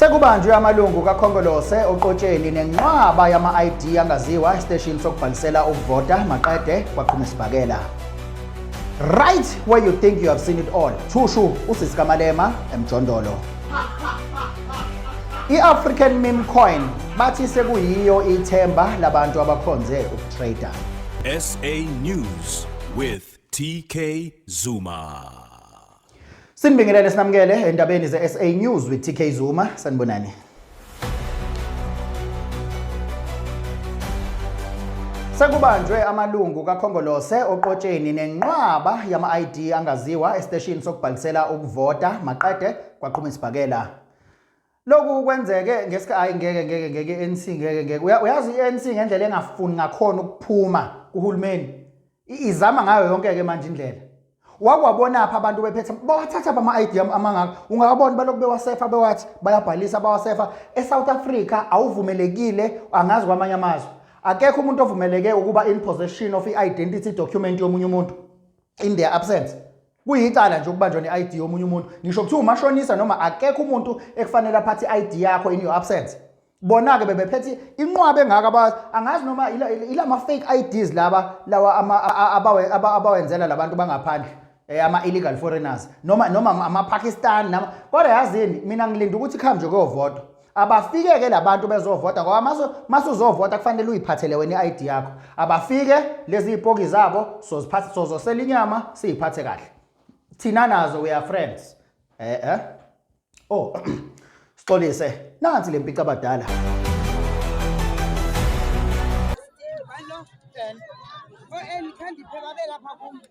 Sekubanjwe amalungu kaKhongolose oqotsheni nenqwaba yama-ID angaziwa esiteshini sokubhalisela ukuvota maqede kwaqhuma isibhakela. Right where you think you have seen it all. Thushu usisi kaMalema emjondolo. I-African meme coin bathi sekuyiyo ithemba labantu abakhonze ukutrader. SA News with TK Zuma. Sinibingelele sinamukele endabeni ze-SA News with TK Zuma. Sanibonani. Sekubanjwe amalungu kaKhongolose oqotsheni nenqwaba yama-ID angaziwa esiteshini sokubhalisela ukuvota maqede kwaqhuma isibhakela. lokhu kwenzeke ngesikhathi hayi ngeke ngeke ngeke ANC ngeke ngeke uyazi iANC ngendlela engafuni ngakhona ukuphuma kuhulumeni izama ngayo yonke ke manje indlela wakwabona apha abantu bephethe bawathatha bama ID amangaka ungakabona balokhu bewasefa bewathi bayabhalisa bawasefa eSouth Africa awuvumelekile angazi kwamanye amazwe akekho umuntu ovumeleke ukuba in possession of i-identity document yomunye umuntu in their absence Kuyicala nje ukubanjwa ne-ID yomunye umuntu. Ngisho kuthiwa umashonisa noma akekho umuntu ekufanele aphathe i-ID yakho in your absence. Bona-ke bebephethe inqwaba engaka abazi angazi noma ila ma-fake IDs laba lawa abawenzela labantu bangaphandle eh, ama-illegal foreigners noma noma ama-pakistan nama kodwa yazini mina ngilinda ukuthi kuhambe nje kuyovotwa abafike ke labantu bezovota ngoba maso masuzovota kufanele uyiphathele wena iID yakho abafike lezi ipoki zabo soziphatha sozosela inyama siyiphathe kahle thina nazo we are friends eh eh oh sixolise nansi lempica abadala Hello, and oh, and can't you pay my bill?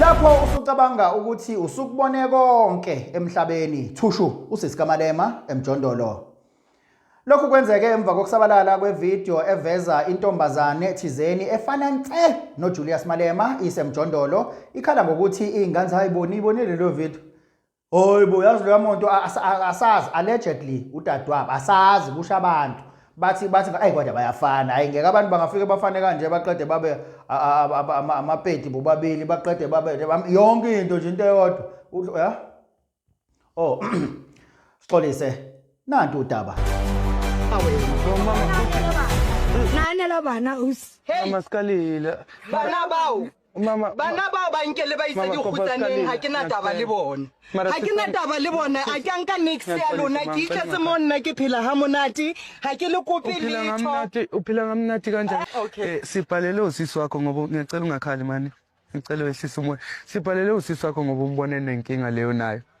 Lapho usucabanga ukuthi usukubone konke emhlabeni, thushu usisikamalema emjondolo. Lokhu kwenzeke emva kokusabalala kwevideo eveza intombazane thizeni efana nce noJulius Malema isemjondolo ikhala ngokuthi ingane hayi boni ibonile lo video Hoyibo yazi leya monto asazi allegedly udadewabo asazi kusho abantu bathi bathi ayi kodwa bayafana hayi ngeke abantu bangafike bafane kanje baqede babe amapedi bobabili baqede babe yonke into nje into eyodwa ya oh sixolise nanti udaba nane lobana us hey masikalile bana bawo bana bao ba nkele ba itse dikgutsaneng ga ke na taba le bone ga ke na taba le bone a ke anka nix ya lona ke itletse mo nna ke phela ga monate ga ke le kope lethophela ga monate kanjani ah, eh, sibhalele usisi wakho ngoba ngiyacela ungakhali mani ngicela wehlisa umoya sibhalele usisi wakho ngoba umbone nenkinga leyo nayo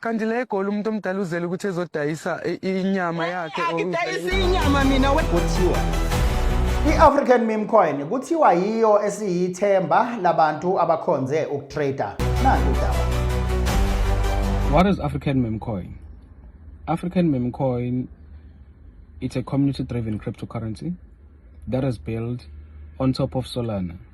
Kanti la eGoli umuntu omdala uzele ukuthi ezodayisa i- inyama yakhe or- Angidayisi inyama mina we. kuthiwa i-african meme coin kuthiwa yiyo esiyithemba labantu abakhonze ukutrader nanti udaba What is African Meme Coin? African Meme Coin it's a community driven cryptocurrency that is built on top of Solana.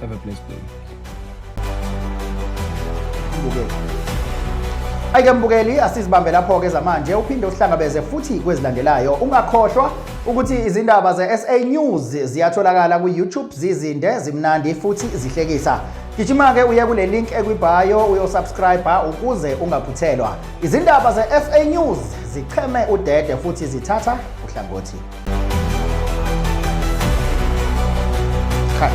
Have a blessed day. Ayike mbukeli asizibambe lapho ke zamanje uphinde uhlangabeze futhi kwezilandelayo ungakhohlwa ukuthi izindaba ze-SA News ziyatholakala ku-YouTube zizinde zimnandi futhi zihlekisa gijima-ke uye kule link ekwibhayo uyosubscriba ukuze ungaphuthelwa izindaba ze-SA News zicheme udede futhi zithatha uhlangothi Cut.